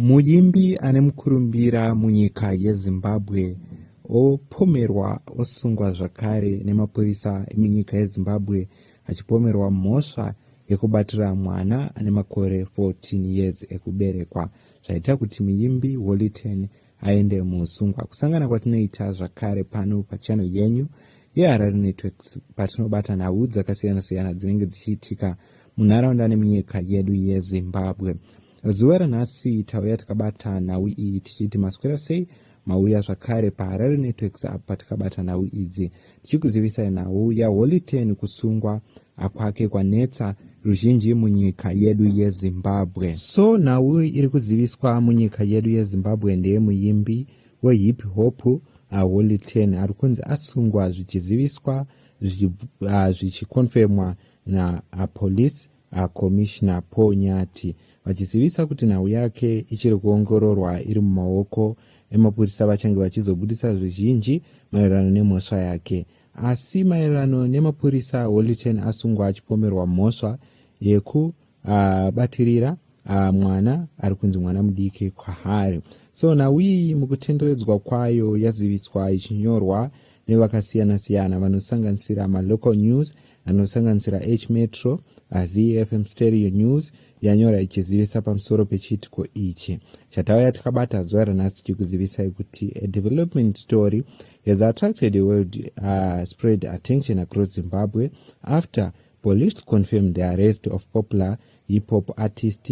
Muimbi ane mukurumbira munyika yeZimbabwe opomerwa osungwa zvakare nemapurisa emunyika yeZimbabwe achipomerwa mhosva yekubatira mwana ane makore 14 years ekuberekwa zvaita kuti muimbi Hollyton aende muusungwa. Kusangana kwatinoita zvakare pano pachannel yenyu yeHarare Networks patinobata nhau dzakasiyana-siyana dzinenge dzichiitika munharaunda nemunyika yedu yeZimbabwe. Zuva ranhasi tauya takabata nhau iyi tichiti maswera sei mauya zvakare paharare networks apa tikabata nhau idzi tichikuzivisai nhau yaholy ten kusungwa akwake kwanetsa ruzhinji munyika yedu yezimbabwe so nhau iri kuziviswa munyika yedu yezimbabwe ndeyemuyimbi wehip hop aholy ten ari kunzi asungwa zvichiziviswa zvichikonfemwa zvichi, uh, napolice VaCommissioner Paul Nyathi vachizivisa kuti nhau yake ichiri kuongororwa iri mumaoko emapurisa vachange vachizobudisa zvizhinji maererano nemhosva yake. Asi maererano nemapurisa, Holiten asungwa achipomerwa mhosva yekubatirira uh, uh, mwana ari kunzi mwana mudiki kwaari. So nhau iyi mukutenderedzwa kwayo yaziviswa ichinyorwa nevakasiyana-siyana vanosanganisira malocal news anosanganisira h metro azfm stereo news yanyora ichizivisa pamusoro pechiitiko ichi chatauya takabata zuva ranhasi tichikuzivisai kuti a development story has attracted a world uh, spread attention across zimbabwe after police confirmed the arrest of popular hip hop artist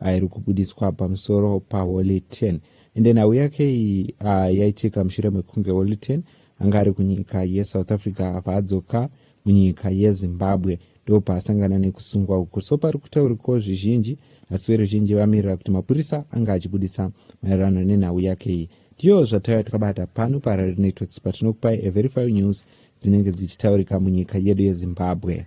airi kubudiswa pamusoro paholy 10 ende nhau yake iyi uh, yaitika mushure mekunge holy 10 anga ari kunyika yesouth africa apa adzoka munyika yezimbabwe ndopaasangana nekusungwa uku so pari kutauriko zvizhinji asi veruzhinji vamirira kuti mapurisa anga achibudisa maererano nenhau yake iyi ndiyo zvataiva takabata pano parary networks patinokupai everify news dzinenge dzichitaurika munyika yedu yezimbabwe